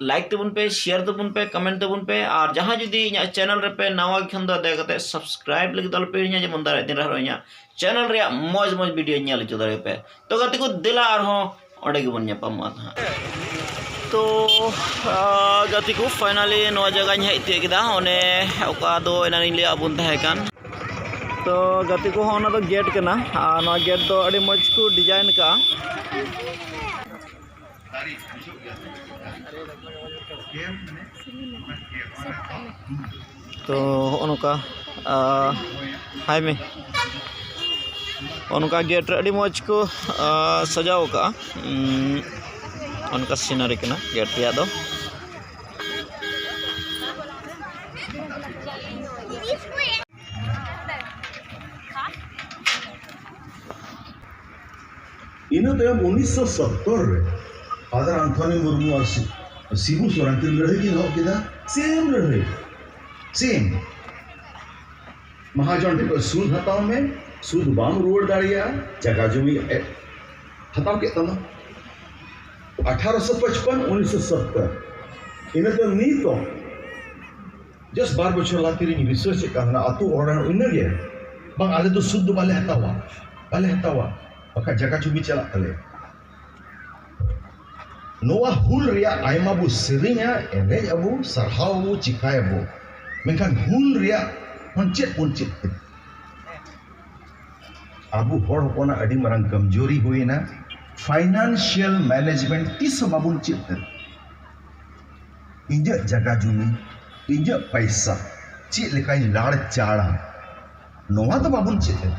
like ᱛᱟᱵᱚᱱ ᱯᱮ share ᱛᱟᱵᱚᱱ ᱯᱮ ᱠᱚᱢᱮᱱᱴ ᱛᱟᱵᱚᱱ ᱯᱮ ᱟᱨ ᱡᱟᱦᱟᱸᱭ ᱡᱩᱫᱤ ᱤᱧᱟᱹᱜ ᱪᱮᱱᱮᱞ ᱨᱮᱯᱮ ᱱᱟᱣᱟ ᱜᱮ ᱠᱷᱟᱱ ᱫᱚ ᱫᱟᱭᱟ ᱠᱟᱛᱮ ᱥᱟᱵᱥᱠᱨᱟᱭᱤᱵ ᱞᱟᱹᱜᱤᱫ ᱫᱚ ᱟᱞᱚᱯᱮ ᱦᱤᱲᱤᱧᱟ ᱡᱮᱢᱚᱱ ᱫᱟᱨᱟᱭ ᱫᱤᱱ ᱨᱮᱦᱚᱸ ᱤᱧᱟᱹᱜ ᱪᱮᱱᱮᱞ ᱨᱮᱭᱟᱜ ᱢᱚᱡᱽ ᱢᱚᱡᱽ ᱵᱷᱤᱰᱤᱭᱳ ᱧᱮᱞ ᱦᱚᱪᱚ ᱫᱟᱲᱮᱭᱟᱯᱮ ᱛᱚ ᱜᱟᱛᱮ ᱠᱚ ᱫᱮᱞᱟ ᱟᱨᱦᱚᱸ ᱚᱸᱰᱮ ᱜᱮᱵᱚᱱ ᱧᱟᱯᱟᱢᱚᱜᱼᱟ ᱱᱟᱦᱟᱜ ᱛᱚ ᱜᱟᱛᱮ ᱠᱚ ᱯᱷᱟᱭᱱᱟᱞᱤ ᱱᱚᱣᱟ ᱡᱟᱭᱜᱟᱧ ᱦᱮᱡ ᱛᱤᱭᱳᱜ ᱠᱮᱫᱟ ᱚᱱᱮ ᱚᱠᱟ ᱫᱚ ᱮᱱᱟᱱᱤᱧ ᱞᱟᱹᱭᱟᱫ ᱵᱚᱱ ᱛᱟᱦᱮᱸ ᱠᱟᱱ ᱛᱚ ᱜᱟᱛᱮ ᱠᱚ ᱦᱚᱸ ᱚᱱᱟ ᱫᱚ ᱜᱮᱴ ᱠᱟᱱᱟ ᱟᱨ ᱱᱚᱣᱟ ᱜᱮᱴ ᱫᱚ ᱟᱹᱰᱤ ᱢᱚᱡᱽ ᱠᱚ ᱰᱤᱡᱟᱭᱤᱱ ᱠᱟᱜᱼᱟ ᱛᱚ ᱦᱚᱜᱼᱚ ᱱᱚᱝᱠᱟ ᱦᱟᱭ ᱢᱮ ᱚᱱᱠᱟ ᱜᱮᱴ ᱨᱮ ᱟᱹᱰᱤ ᱢᱚᱡᱽ ᱠᱚ ᱥᱟᱡᱟᱣ ᱠᱟᱜᱼᱟ ᱚᱱᱠᱟ ᱥᱤᱱᱟᱨᱤ ᱠᱟᱱᱟ ᱜᱮᱴ ᱨᱮᱭᱟᱜ ᱫᱚ ᱤᱱᱟᱹ ᱛᱟᱭᱚᱢ ᱩᱱᱤᱥᱥᱚ ᱥᱚᱛᱛᱚᱨ ᱨᱮ ᱯᱷᱟᱫᱟᱨ ᱟᱱᱛᱷᱚᱱᱤ ᱢᱩᱨᱢᱩ ᱟᱨ ᱥᱤᱵᱩ ᱥᱚᱨᱮᱱ ᱠᱤᱱ ᱞᱟᱹᱲᱦᱟᱹᱭ ᱠᱤᱱ ᱮᱦᱚᱵ ᱠᱮᱫᱟ ᱥᱮᱢ ᱞᱟᱹᱲᱦᱟᱹᱭ ᱥᱮᱢ ᱢᱟᱦᱟᱡᱚᱱ ᱴᱷᱮᱱ ᱠᱷᱚᱱ ᱥᱩᱫ ᱦᱟᱛᱟᱣ ᱢᱮ ᱥᱩᱫ ᱵᱟᱢ ᱨᱩᱣᱟᱹᱲ ᱫᱟᱲᱮᱭᱟᱜᱼᱟ ᱡᱟᱭᱜᱟ ᱡᱚᱢᱤ ᱦᱟᱛᱟᱣ ᱠᱮᱫ ᱛᱟᱢᱟ ᱟᱴᱷᱟᱨᱚᱥᱚ ᱯᱚᱪᱯᱚᱱ ᱩᱱᱤᱥᱥᱚ ᱥᱚᱛᱛᱚᱨ ᱤᱱᱟᱹ ᱛᱟᱭᱚᱢ ᱱᱤᱛᱚᱜ ᱡᱟᱥ ᱵᱟᱨ ᱵᱚᱪᱷᱚᱨ ᱞᱟᱦᱟ ᱛᱤᱨᱤᱧ ᱨᱤᱥᱟᱨᱪ ᱮᱫ ᱠᱟᱱ ᱛᱟᱦᱮᱱᱟ ᱟᱛᱳ ᱚᱲᱟᱜ ᱤᱱᱟᱹᱜᱮ ᱵᱟᱝ ᱟᱞᱮ ᱫᱚ ᱥᱩᱫ ᱫᱚ ᱵᱟᱞᱮ ᱦᱟᱛᱟᱣᱟ ᱵᱟᱞᱮ ᱦᱟᱛᱟᱣᱟ ᱵᱟᱠᱷᱟᱡ ᱡᱟᱭᱜᱟ ᱡᱩᱢᱤ ᱪᱟᱞᱟᱜ ᱛᱟᱞᱮᱭᱟ ᱱᱚᱣᱟ ᱦᱩᱞ ᱨᱮᱭᱟᱜ ᱟᱭᱢᱟ ᱵᱚ ᱥᱮᱨᱮᱧᱟ ᱮᱱᱮᱡ ᱟᱵᱚ ᱥᱟᱨᱦᱟᱣ ᱟᱵᱚ ᱪᱤᱠᱟᱭᱟᱵᱚ ᱢᱮᱱᱠᱷᱟᱱ ᱦᱩᱞ ᱨᱮᱭᱟᱜ ᱦᱚᱸ ᱪᱮᱫ ᱵᱚᱱ ᱪᱮᱫ ᱠᱮᱫᱟ ᱟᱵᱚ ᱦᱚᱲ ᱦᱚᱯᱚᱱᱟᱜ ᱟᱹᱰᱤ ᱢᱟᱨᱟᱝ ᱠᱚᱢᱡᱳᱨᱤ ᱦᱩᱭᱱᱟ ᱯᱷᱟᱭᱱᱟᱱᱥᱤᱭᱟᱞ ᱢᱮᱱᱮᱡᱽᱢᱮᱱᱴ ᱛᱤᱥ ᱦᱚᱸ ᱵᱟᱵᱚᱱ ᱪᱮᱫ ᱠᱮᱫᱟ ᱤᱧᱟᱹᱜ ᱡᱟᱭᱜᱟ ᱡᱩᱢᱤ ᱤᱧᱟᱹᱜ ᱯᱚᱭᱥᱟ ᱪᱮᱫ ᱞᱮᱠᱟᱧ ᱞᱟᱲᱪᱟᱲᱟ ᱱᱚᱣᱟ ᱫᱚ ᱵᱟᱵᱚᱱ ᱪᱮᱫ ᱠᱮᱫᱟ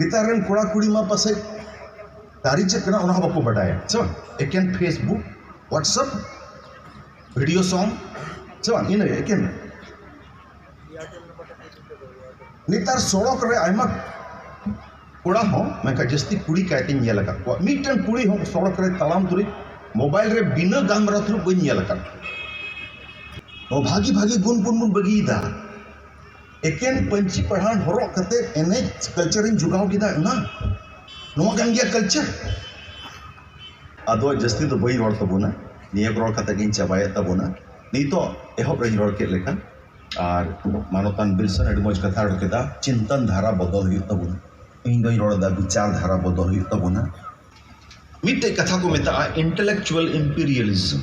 ᱱᱮᱛᱟᱨ ᱨᱮᱱ ᱠᱚᱲᱟ ᱠᱩᱲᱤ ᱢᱟ ᱯᱟᱥᱮᱡ ᱫᱟᱨᱮ ᱪᱮᱫ ᱠᱟᱱᱟ ᱚᱱᱟ ᱦᱚᱸ ᱵᱟᱠᱚ ᱵᱟᱰᱟᱭᱟ ᱥᱮ ᱵᱟᱝ ᱮᱠᱮᱱ ᱯᱷᱮᱥᱵᱩᱠ ᱦᱳᱣᱟᱴᱥᱮᱯ ᱵᱷᱤᱰᱤᱭᱳ ᱥᱚᱝ ᱥᱮ ᱵᱟᱝ ᱤᱱᱟᱹ ᱮᱠᱮᱱ ᱱᱮᱛᱟᱨ ᱥᱚᱲᱚᱠ ᱨᱮ ᱟᱭᱢᱟ ᱠᱚᱲᱟ ᱦᱚᱸ ᱢᱮᱱᱠᱷᱟᱱ ᱡᱟᱹᱥᱛᱤ ᱠᱩᱲᱤ ᱠᱟᱭᱛᱮᱧ ᱧᱮᱞ ᱟᱠᱟᱫ ᱠᱚᱣᱟ ᱢᱤᱫᱴᱮᱱ ᱠᱩᱲᱤ ᱦᱚᱸ ᱥᱚᱲᱚᱠ ᱨᱮ ᱛᱟᱲᱟᱢ ᱛᱩᱞᱩᱡ ᱢᱳᱵᱟᱭᱤᱞ ᱨᱮ ᱵᱤᱱᱟᱹ ᱜᱟᱞᱢᱟᱨᱟᱣ ᱛᱩᱞᱩᱡ ᱵᱟᱹᱧ ᱧᱮᱞ ᱟᱠᱟᱫ ᱠᱚᱣᱟ ᱱᱚᱣᱟ ᱵᱷᱟᱹᱜᱤ ᱵᱷᱟᱹᱜᱤ ᱜᱩᱱ ᱵᱚᱱ ᱵᱟᱹᱜᱤᱭᱮᱫᱟ ᱮᱠᱮᱱ ᱯᱟᱹᱧᱪᱤ ᱯᱟᱲᱦᱟᱱ ᱦᱚᱨᱚᱜ ᱠᱟᱛᱮ ᱮᱱᱮᱡ ᱠᱟᱞᱪᱟᱨ ᱤᱧ ᱡᱚᱜᱟᱣ ᱠᱮᱫᱟ ᱚᱱᱟ ᱱᱚᱣᱟ ᱠᱟᱱ ᱜᱮᱭᱟ ᱠᱟᱞᱪᱟᱨ ᱟᱫᱚ ᱡᱟᱹᱥᱛᱤ ᱫᱚ ᱵᱟᱹᱧ ᱨᱚᱲ ᱛᱟᱵᱚᱱᱟ ᱱᱤᱭᱟᱹ ᱠᱚ ᱨᱚᱲ ᱠᱟᱛᱮ ᱜᱤᱧ ᱪᱟᱵᱟᱭᱮᱫ ᱛᱟᱵᱚᱱᱟ ᱱᱤᱛᱚᱜ ᱮᱦᱚᱵ ᱨᱤᱧ ᱨᱚᱲ ᱠᱮᱫ ᱞᱮᱠᱟ ᱟᱨ ᱢᱟᱱᱚᱛᱟᱱ ᱵᱤᱨᱥᱟᱱ ᱟᱹᱰᱤ ᱢᱚᱡᱽ ᱠᱟᱛᱷᱟᱭ ᱨᱚᱲ ᱠᱮᱫᱟ ᱪᱤᱱᱛᱟᱹᱱ ᱫᱷᱟᱨᱟ ᱵᱚᱫᱚᱞ ᱦᱩᱭᱩᱜ ᱛᱟᱵᱚᱱᱟ ᱤᱧ ᱫᱚᱧ ᱨᱚᱲᱫᱟ ᱵᱤᱪᱟᱨ ᱫᱷᱟᱨᱟ ᱵᱚᱫᱚᱞ ᱦᱩᱭᱩᱜ ᱛᱟᱵᱚᱱᱟ ᱢᱤᱫᱴᱮᱡ ᱠᱟᱛᱷᱟ ᱠᱚ ᱢᱮᱛᱟᱜᱼᱟ ᱤᱱᱴᱮᱞᱮᱠᱪᱩᱭᱮᱞ ᱤᱢᱯᱮᱨᱤᱭᱟᱞᱤᱡᱚᱢ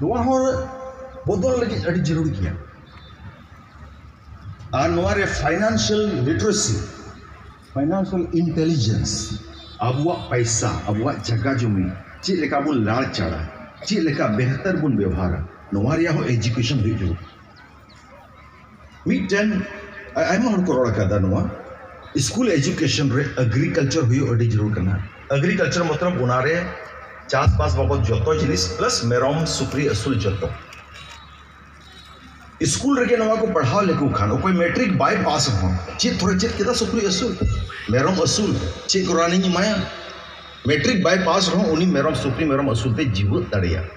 ᱱᱚᱣᱟ ᱦᱚᱸ ᱵᱚᱫᱚᱞ ᱞᱟᱹᱜᱤᱫ ᱟᱹᱰᱤ ᱡᱟᱹᱨᱩᱲ ᱜᱮᱭᱟ ᱟᱨ ᱱᱚᱣᱟᱨᱮ ᱯᱷᱟᱭᱱᱟᱱᱥᱤᱭᱟᱞ ᱞᱤᱴᱟᱨᱮᱥᱤ ᱯᱷᱟᱭᱱᱟᱱᱥᱤᱭᱟᱞ ᱤᱱᱴᱮᱞᱤᱡᱮᱱᱥ ᱟᱵᱚᱣᱟᱜ ᱯᱚᱭᱥᱟ ᱟᱵᱚᱣᱟᱜ ᱡᱟᱭᱜᱟ ᱡᱚᱢᱤ ᱪᱮᱫ ᱞᱮᱠᱟ ᱵᱚᱱ ᱞᱟᱲᱪᱟᱲᱟ ᱪᱮᱫ ᱞᱮᱠᱟ ᱵᱮᱦᱛᱟᱨ ᱵᱚᱱ ᱵᱮᱵᱚᱦᱟᱨᱟ ᱱᱚᱣᱟ ᱨᱮᱭᱟᱜ ᱦᱚᱸ ᱮᱰᱩᱠᱮᱥᱚᱱ ᱦᱩᱭᱩᱜ ᱡᱟᱹᱨᱩᱲ ᱢᱤᱫᱴᱮᱱ ᱟᱭᱢᱟ ᱦᱚᱲ ᱠᱚ ᱨᱚᱲ ᱟᱠᱟᱫᱟ ᱱᱚᱣᱟ ᱥᱠᱩᱞ ᱮᱡᱩᱠᱮᱥᱚᱱ ᱨᱮ ᱮᱜᱽᱨᱤᱠᱟᱞᱪᱟᱨ ᱦᱩᱭᱩᱜ ᱟᱹᱰᱤ ᱡᱟᱹᱨᱩᱲ ᱠᱟᱱᱟ ᱮᱜᱽᱨᱤᱠᱟᱞᱪᱟᱨ ᱢᱚᱛᱞᱚᱵ ᱚᱱᱟᱨᱮ ᱪᱟᱥᱵᱟᱥ ᱵᱟᱵᱚᱫ ᱡᱚᱛᱚ ᱡᱤᱱᱤᱥ ᱯᱞᱟᱥ ᱢᱮᱨᱚᱢ ᱥᱩᱠᱨᱤ ᱟᱹᱥᱩᱞ ᱡᱚᱛᱚ ᱥᱠᱩᱞ ᱨᱮᱜᱮ ᱱᱚᱣᱟ ᱠᱚ ᱯᱟᱲᱦᱟᱣ ᱞᱮᱠᱚ ᱠᱷᱟᱱ ᱚᱠᱚᱭ ᱢᱮᱴᱨᱤᱠ ᱵᱟᱭ ᱯᱟᱥ ᱨᱮᱦᱚᱸ ᱪᱮᱫ ᱛᱷᱚᱲᱟ ᱪᱮᱫ ᱠᱮᱫᱟ ᱥᱩᱠᱨᱤ ᱟᱹᱥᱩᱞ ᱢᱮᱨᱚᱢ ᱟᱹᱥᱩᱞ ᱪᱮᱫ ᱠᱚ ᱨᱟᱱᱤᱧ ᱮᱢᱟᱭᱟ ᱢᱮᱴᱨᱤᱠ ᱵᱟᱭ ᱯᱟᱥ ᱨᱮᱦᱚᱸ ᱩᱱᱤ ᱢᱮᱨᱚᱢ ᱥᱩᱠᱨᱤ ᱢᱮᱨᱚᱢ ᱟᱹᱥᱩᱞ ᱛᱮᱭ ᱡᱤᱣᱭᱮᱫ ᱫᱟᱲᱮᱭᱟᱜᱼᱟ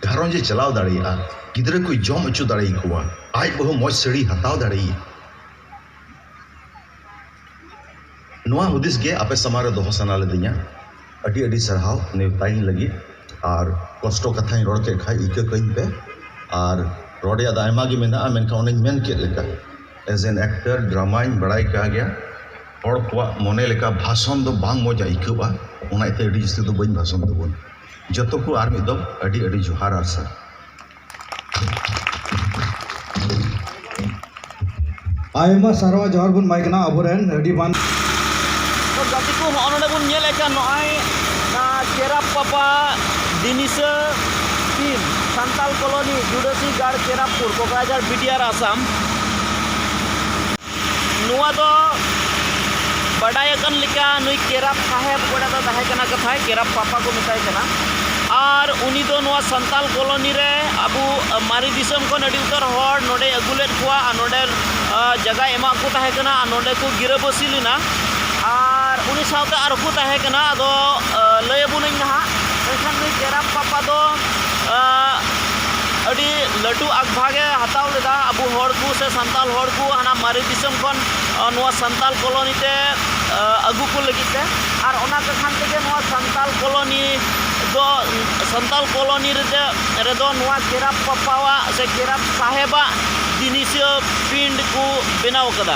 ᱜᱷᱟᱨᱚᱸᱡᱽ ᱮ ᱪᱟᱞᱟᱣ ᱫᱟᱲᱮᱭᱟᱜᱼᱟ ᱜᱤᱫᱽᱨᱟᱹ ᱠᱚᱭ ᱡᱚᱢ ᱦᱚᱪᱚ ᱫᱟᱲᱮᱭᱟᱠᱚᱣᱟ ᱟᱡ ᱵᱟᱹᱦᱩ ᱢᱚᱡᱽ ᱥᱟᱹᱲᱤᱭ ᱦᱟᱛᱟᱣ ᱫᱟᱲᱮᱭᱟᱭᱟ ᱱᱚᱣᱟ ᱦᱩᱫᱤᱥ ᱜᱮ ᱟᱯᱮ ᱥᱟᱢᱟᱝ ᱨᱮ ᱫᱚᱦᱚ ᱥᱟᱱᱟ ᱞᱤᱫᱤᱧᱟ ᱟᱹᱰᱤ ᱟᱹᱰᱤ ᱥᱟᱨᱦᱟᱣ ᱱᱮᱣᱛᱟ ᱤᱧ ᱞᱟᱹᱜᱤᱫ ᱟᱨ ᱠᱚᱥᱴᱚ ᱠᱟᱛᱷᱟᱧ ᱨᱚᱲ ᱠᱮᱫ ᱠᱷᱟᱱ ᱤᱠᱟᱹ ᱠᱟᱹᱧ ᱯᱮ ᱟᱨ ᱨᱚᱲ ᱨᱮᱭᱟᱜ ᱫᱚ ᱟᱭᱢᱟ ᱜᱮ ᱢᱮᱱᱟᱜᱼᱟ ᱢᱮᱱᱠᱷᱟᱱ ᱚᱱᱮᱧ ᱢᱮᱱ ᱠᱮᱫ ᱞᱮᱠᱟ ᱮᱡᱽ ᱮᱱ ᱮᱠᱴᱟᱨ ᱰᱨᱟᱢᱟᱧ ᱵᱟᱲᱟᱭ ᱠᱟᱜ ᱜᱮᱭᱟ ᱦᱚᱲ ᱠᱚᱣᱟᱜ ᱢᱚᱱᱮ ᱞᱮᱠᱟ ᱵᱷᱟᱥᱚᱱ ᱫᱚ ᱵᱟᱝ ᱢᱚᱡᱽ ᱟᱹᱭᱠᱟᱹᱜᱼᱟ ᱚᱱᱟ ᱤᱭᱟᱹᱛᱮ ᱟᱹᱰᱤ ᱡᱟᱹᱥᱛᱤ ᱫᱚ ᱵᱟᱹᱧ ᱵᱷᱟᱥᱚᱱ ᱛᱟᱵᱚᱱᱟ ᱡᱚᱛᱚ ᱠᱚ ᱟᱨ ᱢᱤᱫ ᱫᱚᱢ ᱟᱹᱰᱤ ᱟᱹᱰᱤ ᱡᱚᱦᱟᱨ ᱟᱨ ᱥᱟᱨ ᱟᱭᱢᱟ ᱥᱟᱨᱦᱟᱣ ᱡᱚᱦᱟᱨ ᱵᱚᱱ ᱮᱢᱟᱭ ᱠᱟᱱᱟ ᱟᱵᱚᱨᱮᱱ ᱟᱹᱰᱤ ᱢᱟᱱ ᱜᱟᱛᱮ ᱠᱚ ᱦᱚᱸᱜᱼᱚ ᱱᱚᱰᱮ ᱵᱚᱱ ᱧᱮᱞᱮᱫ ᱠᱟᱱ ᱱᱚᱜᱼᱚᱭ ᱪᱮᱨᱟᱯ ᱯᱟᱯᱟ ᱫᱤᱱᱤᱥᱟᱹ ᱴᱤᱢ ᱥᱟᱱᱛᱟᱞ ᱠᱚᱞᱚᱱᱤ ᱡᱩᱰᱟᱹᱥᱤ ᱜᱟᱲ ᱪᱮᱨᱟᱯᱩᱨ ᱠᱚᱠᱨᱟᱡᱷᱟᱲ ᱵᱤᱴᱤᱟᱨ ᱟᱥᱟᱢ ᱱᱚᱣᱟ ᱫᱚ ᱵᱟᱰᱟᱭ ᱟᱠᱟᱱ ᱞᱮᱠᱟ ᱱᱩᱭ ᱠᱮᱨᱟᱯ ᱥᱟᱦᱮᱵᱽ ᱚᱠᱚᱭᱴᱟᱜ ᱫᱚ ᱛᱟᱦᱮᱸ ᱠᱟᱱᱟ ᱠᱟᱛᱷᱟᱡ ᱠᱮᱨᱟᱯ ᱯᱟᱯᱟ ᱠᱚ ᱢᱮᱛᱟᱭ ᱠᱟᱱᱟ ᱟᱨ ᱩᱱᱤ ᱫᱚ ᱱᱚᱣᱟ ᱥᱟᱱᱛᱟᱲ ᱠᱚᱞᱳᱱᱤ ᱨᱮ ᱟᱵᱚ ᱢᱟᱨᱮ ᱫᱤᱥᱚᱢ ᱠᱷᱚᱱ ᱟᱹᱰᱤ ᱩᱛᱟᱹᱨ ᱦᱚᱲ ᱱᱚᱰᱮᱭ ᱟᱹᱜᱩ ᱞᱮᱫ ᱠᱚᱣᱟ ᱟᱨ ᱱᱚᱰᱮ ᱡᱟᱭᱜᱟᱭ ᱮᱢᱟᱫ ᱠᱚ ᱛᱟᱦᱮᱸ ᱠᱟᱱᱟ ᱟᱨ ᱱᱚᱰᱮ ᱠᱚ ᱜᱤᱨᱟᱹᱵᱟᱹᱥᱤ ᱞᱮᱱᱟ ᱟᱨ ᱩᱱᱤ ᱥᱟᱶᱛᱮ ᱟᱨ ᱦᱚᱸᱠᱚ ᱛᱟᱦᱮᱸ ᱠᱟᱱᱟ ᱟᱫᱚ ᱞᱟᱹᱭ ᱟᱵᱚᱱᱟᱹᱧ ᱱᱟᱦᱟᱜ ᱢᱮᱱᱠᱷᱟᱱ ᱱᱩᱭ ᱠᱮᱨᱟᱯ ᱯᱟᱯᱟ ᱫᱚ ᱟᱹᱰᱤ ᱞᱟᱹᱴᱩ ᱟᱜᱽᱵᱷᱟᱜᱽ ᱮ ᱦᱟᱛᱟᱣ ᱞᱮᱫᱟ ᱟᱵᱚ ᱦᱚᱲ ᱠᱚ ᱥᱮ ᱥᱟᱱᱛᱟᱲ ᱦᱚᱲ ᱠᱚ ᱦᱟᱱᱟ ᱢᱟᱨᱮ ᱫᱤᱥᱚᱢ ᱠᱷᱚᱱ ᱱᱚᱣᱟ ᱥᱟᱱᱛᱟᱲ ᱠᱚᱞᱳᱱᱤ ᱛᱮ ᱟᱹᱜᱩ ᱠᱚ ᱞᱟᱹᱜᱤᱫ ᱛᱮ ᱟᱨ ᱚᱱᱟ ᱠᱟᱠᱷᱟᱱ ᱛᱮᱜᱮ ᱱᱚᱣᱟ ᱥᱟᱱᱛᱟᱲ ᱠᱚᱞᱳᱱᱤ ᱫᱚ ᱥᱟᱱᱛᱟᱲ ᱠᱚᱞᱳᱱᱤ ᱨᱮᱫᱚ ᱨᱮᱫᱚ ᱱᱚᱣᱟ ᱠᱮᱨᱟᱯ ᱵᱟᱯᱟᱣᱟᱜ ᱥᱮ ᱠᱮᱨᱟᱯ ᱥᱟᱦᱮᱵᱟᱜ ᱡᱤᱱᱤᱥ ᱯᱨᱤᱱᱴ ᱠᱚ ᱵᱮᱱᱟᱣ ᱠᱟᱫᱟ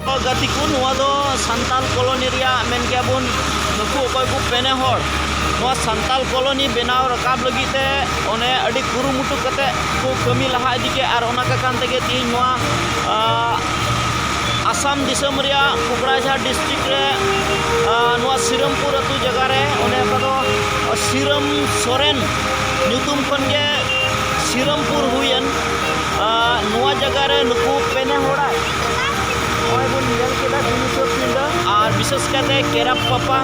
ᱜᱟᱛᱮ ᱠᱚ ᱱᱚᱣᱟ ᱫᱚ ᱥᱟᱱᱛᱟᱞ ᱠᱚᱞᱚᱱᱤ ᱨᱮᱭᱟᱜ ᱢᱮᱱ ᱜᱮᱭᱟ ᱵᱚᱱ ᱱᱩᱠᱩ ᱚᱠᱚᱭ ᱠᱚ ᱯᱮᱱᱮ ᱦᱚᱲ ᱱᱚᱣᱟ ᱥᱟᱱᱛᱟᱞ ᱠᱚᱞᱚᱱᱤ ᱵᱮᱱᱟᱣ ᱨᱟᱠᱟᱵ ᱞᱟᱹᱜᱤᱫ ᱛᱮ ᱚᱱᱮ ᱟᱹᱰᱤ ᱠᱩᱨᱩᱢᱩᱴᱩ ᱠᱟᱛᱮ ᱠᱚ ᱠᱟᱹᱢᱤ ᱞᱟᱦᱟ ᱤᱫᱤ ᱠᱮᱫ ᱟᱨ ᱚᱱᱟ ᱠᱚ ᱠᱟᱱ ᱛᱮᱜᱮ ᱛᱮᱦᱮᱧ ᱱᱚᱣᱟ ᱟᱥᱟᱢ ᱫᱤᱥᱚᱢ ᱨᱮᱭᱟᱜ ᱠᱩᱠᱲᱟᱡᱷᱟᱨ ᱰᱤᱥᱴᱨᱤᱠ ᱨᱮ ᱱᱚᱣᱟ ᱥᱤᱨᱟᱢᱯᱩᱨ ᱟᱹᱛᱩ ᱡᱟᱭᱜᱟ ᱨᱮ ᱚᱱᱮ ᱚᱠᱟ ᱫᱚ ᱥᱤᱨᱟᱢ ᱥᱚᱨᱮᱱ ᱧᱩᱛᱩᱢ ᱠᱷᱚᱱ ᱜᱮ ᱥᱤᱨᱟᱢᱯᱩᱨ ᱦᱩᱭᱮᱱ ᱱᱚᱣᱟ ᱡᱟᱭᱜᱟ ᱨᱮ ᱱᱩᱠᱩ ᱯᱮᱱᱮ ᱦᱚᱲᱟᱜ ᱱᱚᱜᱼᱚᱭ ᱵᱚᱱ ᱧᱮᱞ ᱠᱮᱫᱟ ᱫᱤᱱᱤᱥᱚᱨ ᱯᱤᱸᱰᱟᱹ ᱟᱨ ᱵᱤᱥᱮᱥ ᱠᱟᱛᱮ ᱠᱮᱨᱟᱯ ᱯᱟᱯᱟ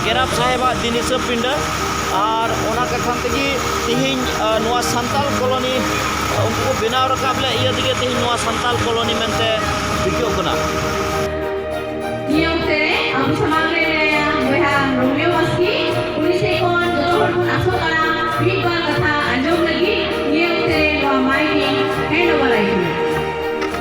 ᱠᱮᱨᱟᱯ ᱥᱟᱦᱮᱵᱟᱜ ᱫᱤᱱᱤᱥᱚᱨ ᱯᱤᱸᱰᱟᱹ ᱟᱨ ᱚᱱᱟ ᱠᱟᱛᱷᱟ ᱛᱮᱜᱮ ᱛᱮᱦᱮᱧ ᱱᱚᱣᱟ ᱥᱟᱱᱛᱟᱞ ᱠᱚᱞᱚᱱᱤ ᱩᱱᱠᱩ ᱠᱚ ᱵᱮᱱᱟᱣ ᱨᱟᱠᱟᱵ ᱞᱮᱫ ᱤᱭᱟᱹ ᱛᱮᱜᱮ ᱛᱮᱦᱮᱧ ᱱᱚᱣᱟ ᱥᱟᱱᱛᱟᱞ ᱠᱚᱞᱚᱱᱤ ᱢᱮᱱᱛᱮ ᱴᱷᱤᱠᱟᱹᱜ ᱠᱟᱱᱟ ᱱᱤᱭᱚᱢᱛᱮ ᱟᱵᱚ ᱥᱟᱢᱟᱝ ᱨᱮ ᱢᱮᱱᱟᱭᱟ ᱵᱚᱭᱦᱟ ᱨᱳᱢᱤᱭᱳ ᱵᱟᱥᱠᱮ ᱩᱱᱤ ᱥᱮᱫ ᱠᱷᱚᱱ ᱡᱚᱛᱚ ᱦᱚᱲ ᱵᱚᱱ ᱟᱥᱚᱜ ᱠᱟᱱᱟ ᱢᱤᱫ ᱵᱟᱨ ᱠᱟᱛᱷᱟ ᱟᱸᱡᱚᱢ ᱞᱟᱹᱜᱤᱫ ᱱᱤᱭᱚᱢᱛᱮ ᱱᱚᱣᱟ ᱢᱟᱭᱤᱠ ᱤᱧ ᱦᱮᱱᱰ ᱳᱵᱷᱟᱨ ᱟᱭ ᱠᱟᱱᱟ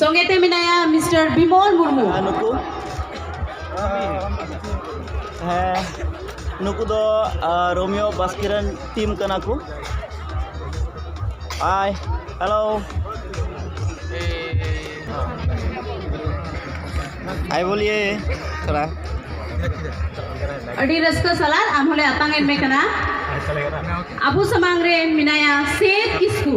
ᱥᱚᱸᱜᱮ ᱛᱮ ᱢᱮᱱᱟᱭᱟ ᱢᱤᱥᱴᱟᱨ ᱵᱤᱢᱚᱞ ᱢᱩᱨᱢᱩ ᱟᱨ ᱱᱩᱠᱩ ᱦᱮᱸ ᱱᱩᱠᱩ ᱫᱚ ᱟᱨ, ᱨᱳᱢᱤᱭᱳ ᱵᱟᱥᱠᱮ ᱨᱮᱱ ᱴᱤᱢ ᱠᱟᱱᱟ ᱠᱚ ᱦᱟᱭ ᱦᱮᱞᱳ ᱟᱭ ᱵᱚᱞᱤᱭᱮ ᱛᱷᱚᱲᱟ ᱟᱹᱰᱤ ᱨᱟᱹᱥᱠᱟᱹ ᱥᱟᱞᱟᱜ ᱟᱢ ᱦᱚᱸᱞᱮ ᱟᱛᱟᱝ ᱮᱫ ᱢᱮ ᱠᱟᱱᱟ ᱟᱵᱚ ᱥᱟᱢᱟᱝ ᱨᱮ ᱢᱮᱱᱟᱭᱟ ᱥᱮᱫ ᱠᱤᱥᱠᱩ